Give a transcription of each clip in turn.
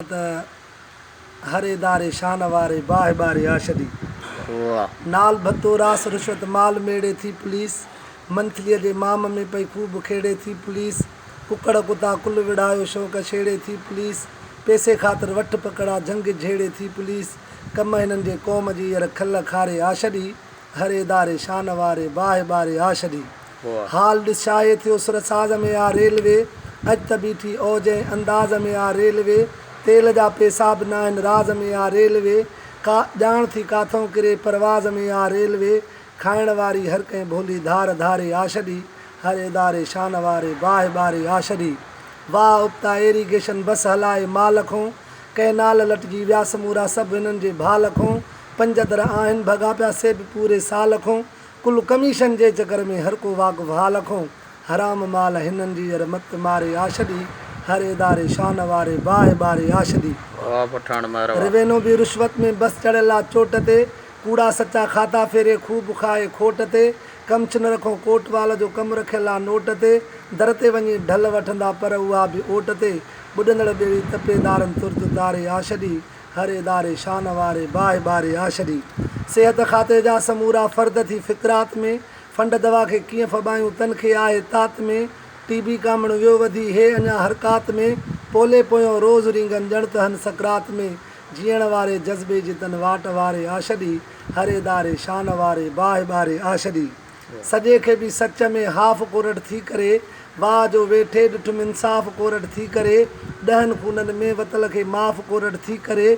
ته هر اداري شان واري باهه ٻاري آشدي نال ڀتو راس رشوت مال ميڙي ٿي پوليس منٿليء جي مام ۾ پئي خوب کيڙي ٿي پوليس ڪڪڙ ڪتا ڪل وڙهايو شوق ڇيڙي ٿي پوليس پيسي خاطر وٺ پڪڙا جهنگ جهيڙي ٿي پوليس ڪم هنن جي قوم جي ير کل کاري آشدي گهر اداري شان واري باهه ٻاري آ ڇڏي حال ڏس شاهي ٿيو سر ساز ۾ آ ريلوي اڄ ته بيٺي اوج ۽ انداز ۾ آ ريلوي تيل جا پيسا به ناهن راز ۾ آ ريلوي ڪا ڄاڻ ٿي ڪاٿئون ڪري پرواز ۾ آ ريلوي کائڻ واري هر ڪنهن ڀولي ڌار ڌاري آ ڇڏي هر اداري شان واري باهه ٻاري آ ڇڏي واهه ابتا ايريگيشن بس هلائي مال کئون ڪئنال لٽجي ويا سمورا سڀ هنن جي ڀال کئون پنج در آهن ڀڳا پيا سي به پوري سال کون ڪل ڪميشن جي چڪر ۾ هر ڪو واقف حال کون حرام مال هنن جي ير مت ماري آشدي هر اداري شان واري باهه ٻاري آشدي واهه پٺاڻ مهر واهه. روينو به رشوت ۾ بس چڙهيل آ چوٽ تي ڪوڙا سچا کاتا ڦيري خوب کائي کوٽ تي ڪمشنر کون ڪوٽوال جو ڪم رکيل آ نوٽ تي در تي وڃي ڍل وٺندا پر اها به اوٽ تي ٻڏندڙ ٻيڙي تپي دارن ترت تاري آشدي هر اداري شان واري باهه ٻاري آ ڇڏي. صحت کاتي جا سمورا فرد ٿي فڪرات ۾، فنڊ دوا کي ڪيئن ڦٻايون تن کي آهي تات ۾، ٽي بي ڪامڻ ويو وڌي هي اڃا حرڪات ۾، پولي پويون روز رينگن ڄڻ ته هن سڪرات ۾، جيئڻ واري جذبي جي تن واٽ واري آ ڇڏي. هر اداري شان واري باهه ٻاري آ ڇڏي. سڄي کي به سچ ۾ هاف ڪورٽ ٿي ڪري واهه جو ويٺي ڏٺم انصاف ڪورٽ ٿي ڪري ڏهن خونن ۾ وتل کي معاف ڪورٽ ٿي ڪري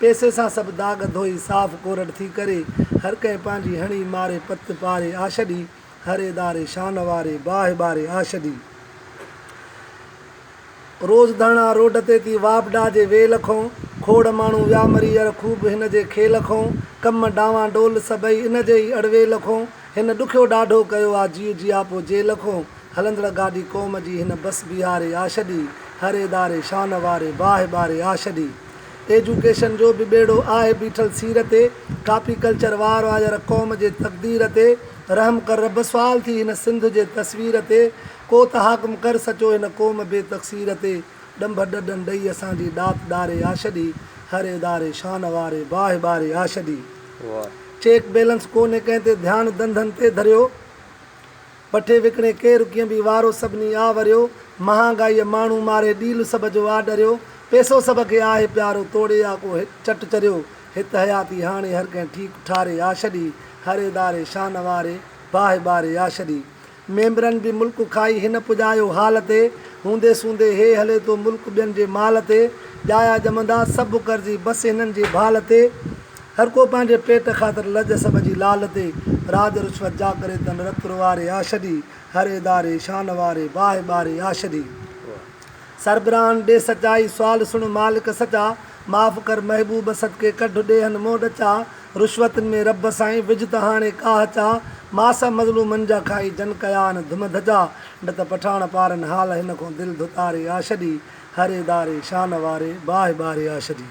پيسي سان سڀ داغ ڌوئي صاف ڪورٽ ٿي ڪري هر ڪنهن پنهنجي هڻي ماري پت پاري آڇڏي هر اداري شان واري باهه ٻاري آڇڏي روز ڌڻا روڊ تي ٿي واپڊا جي ويل کئون کوڙ ماڻهو ويا مري ير خوب هن جي کيل کئون ڪم ڊانوان ڊول سڀئي ان جي ئي اڙويل کئون هن ڏکيو ڏاڍو ڪيو آ جيو جياپو جيل کئون هلندڙ گاڏي قوم جي هن بس بيهاري آ ڇڏي هر اداري شان واري باهه ٻاري آ ڇڏي ايجوڪيشن جو به ٻيڙو آهي بيٺل سير تي ڪاپي ڪلچر وار آ ير قوم جي تقدير تي رحم ڪر رب سوال ٿي هن سنڌ جي تصوير تي ڪو ته حاڪم ڪر سچو هن قوم بي تقصير تي ڏنڀ ڏڏن ڏئي اسان جي ڏات ڏاري آڇڏي هر اداري شان واري باهه ٻاري آڇڏي چيڪ بيلنس ڪونهي ڪنهن تي ڌيان ڌنڌن تي ڌريو بٺي وڪڻي ڪير ڪيئن به وارو سڀني آ وريو مهانگائي ماڻهو ماري ڏيل سڀ جو آ ڏريو پيسو سڀ کي آهي پيارو توڙي آ ڪو هڪ چٽ چريو هت حياتي هاڻي هر ڪنهن ٺيڪ ٺاري آڇڏي هر اداري شان واري باهه ٻاري آڇڏي ميمبرن به ملڪ کائي هن پڄايو حال تي، هوندي سوندي هي هلي ٿو ملڪ ٻين جي مال تي، ڄايا ڄمندا سڀ قرضي بس هنن جي ڀال تي، هر ڪو پنهنجي پيٽ خاطر لڄ سڀ جي لال تي، راڄ رشوت جا ڪري تن رت روئاري آ ڇڏي، هر اداري شان واري باهه ٻاري آ ڇڏي، سربراهن ڏي سچائي، سوال سڻ مالڪ سچا، معاف ڪر محبوب صدقي ڪڍ ڏيهن مون ڏچا، رشوتن ۾ رب سائين وجهه ته هاڻي ڪاهه چا، ماس مظلومن جا کائي جن ڪيا آهن ڌم ڌجا، نه ته پٺاڻ پارن حال هن کون دل ڌتاري آ ڇڏي، هر اداري شان واري باهه ٻاري آ ڇڏي.